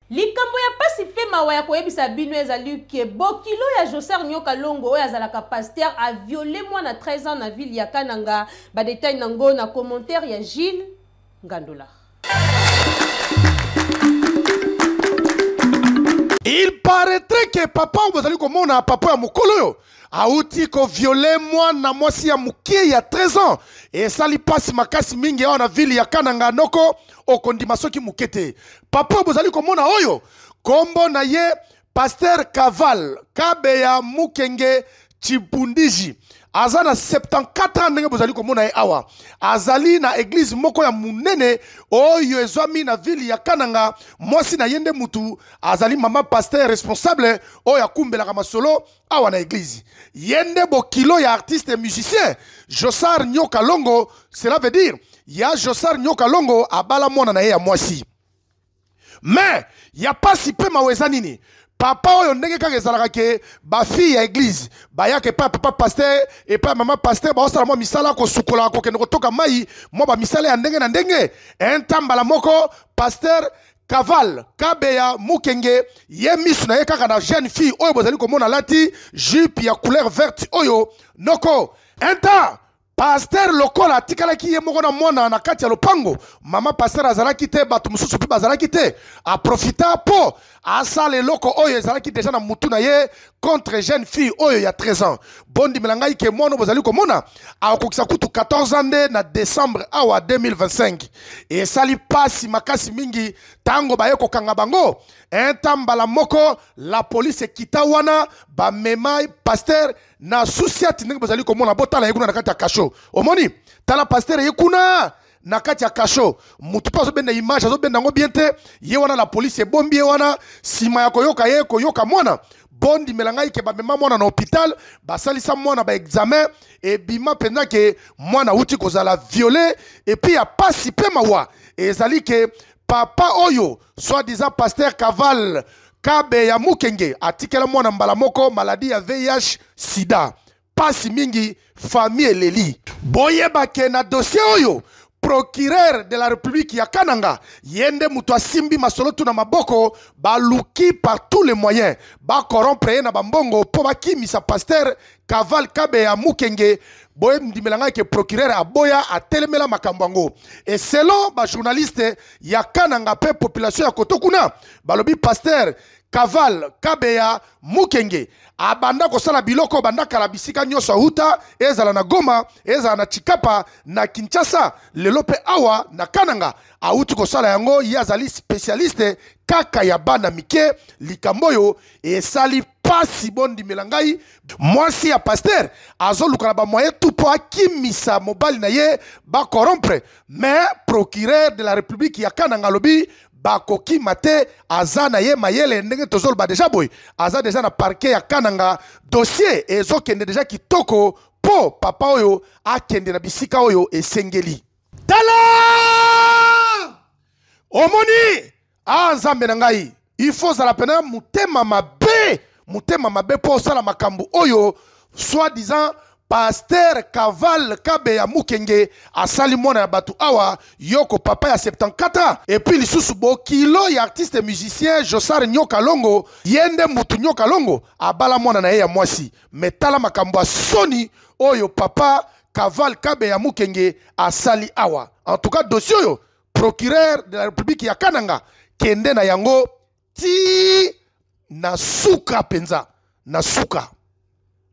Likambo ya pasi pe mawa ya koyebisa bino ezali que bokilo ya Jocer Nyoka Longo oyo azalaka pasteur a viole mwana 13 ans na ville ya Kananga. Ba details na ngo na commentaire ya Gilles Ngandolakh. Il paraîtrait que papa oyo bozali komona papa ya mokolo oyo auti koviole mwana mwasi ya mokie ya 13 ans esali mpasi makasi mingi awa na vile ya kananga noko okondima soki moke te papa bozali komona oyo nkombo na ye paster kaval kabe ya mukenge chibundiji aza na 74 ans ndenge bozali komona ye awa azali na eglize moko ya monene oyo ezwami na vile ya kananga mwasi na ye nde mutu azali mama paster responsable oyo akumbelaka masolo awa na eglise ye nde bokilo ya artiste musicien josar nyoka longo cela veut dire ya josar nyoka longo abala mwana na ye ya mwasi mais ya pasi mpe mawa eza nini papa oyo ndenge kaka ezalaka ke bafille ya eglize bayaka epai ya papa paster epai ya mama paster baosala mwa misala kosukola kokende kotoka mai mwa bamisala ya ndenge na ndenge entambala moko paster Kaval Kabeya Mukenge ye misu na ye kaka na jeune fille oyo bozali komona lati jupe ya couleur verte oyo noko enta paster lokola atikalaki ye moko na mwana na kati ya lopango mama paster azalaki te bato mosusu mpe bazalaki te aprofita mpo asala eloko oyo ezalaki deja na mutu na ye contre jeune fille oyo ya 13 ans bondimela ngai ke mwana bozali komona akokisa kutu 14 ans nde na décembre awa 2025 esali mpasi makasi mingi ntango baye kokanga bango enta mbala moko la police ekita wana bamema paster na susiati ndenge bozali komona botala ye kuna na kati ya kasho omoni tala paster ye kuna na kati ya kasho motu mpe azobenda image azobenda yango bien te ye wana la polisi ebombi ye wana nsima ya koyoka ye koyoka mwana bondimela ngai ke bamema mwana na hôpital basalisa mwana baexamen ebima mpenza ke mwana auti kozala viole epuis ya pasi mpe mawa ezali ke papa oyo soit disant pasteur caval kabe ya mukenge atikela mwana mbala moko maladi ya vih sida pasi mingi famille eleli boyeba ke na dossier oyo procureur de la république ya kananga ye nde moto asimbi masolo tuna maboko baluki par tous les moyens bakorompre ye na bambongo mpo bakimisa pasteur kaval kabe ya mukenge boyendimela ngai ke procureur aboya atelemela makambo yango e selon bajournaliste ya kananga mpe population ya koto kuna balobi pasteur Kaval Kabeya Mukenge abanda kosala biloko banda kala bisika nyonso auta, ezala na Goma, ezala na Chikapa, na Kinshasa, lelo mpe awa na Kananga auti kosala yango. Ye azali specialiste kaka ya bana mike. Likambo oyo esali mpasi, bondimela ngai. Mwasi ya pasteur azoluka na bamoye tu mpo akimisa mobali na ye bakorompre, mais procureur de la republique ya Kananga alobi bakokima te aza na ye mayele ndenge tozoloba deja boye aza deja na parke ya kananga dossier ezokende deja kitoko mpo papa oyo akende na bisika oyo esengeli tala omoni a ah, nzambe na ngai ifo ozala mpena motema mabe motema mabe mpo osala makambo oyo soit disant paster kaval kabe ya mukenge asali mwana ya bato awa yoko papa ya 74 epuis lisusu bokilo ya artiste musicien josar nyoka longo ye nde mutu nyoka longo abala mwana na ye ya mwasi me tala makambo ya soni oyo papa kaval kabe ya mukenge asali awa en tout cas dossier oyo procureur de la république ya kananga kende na yango ti na suka penza na suka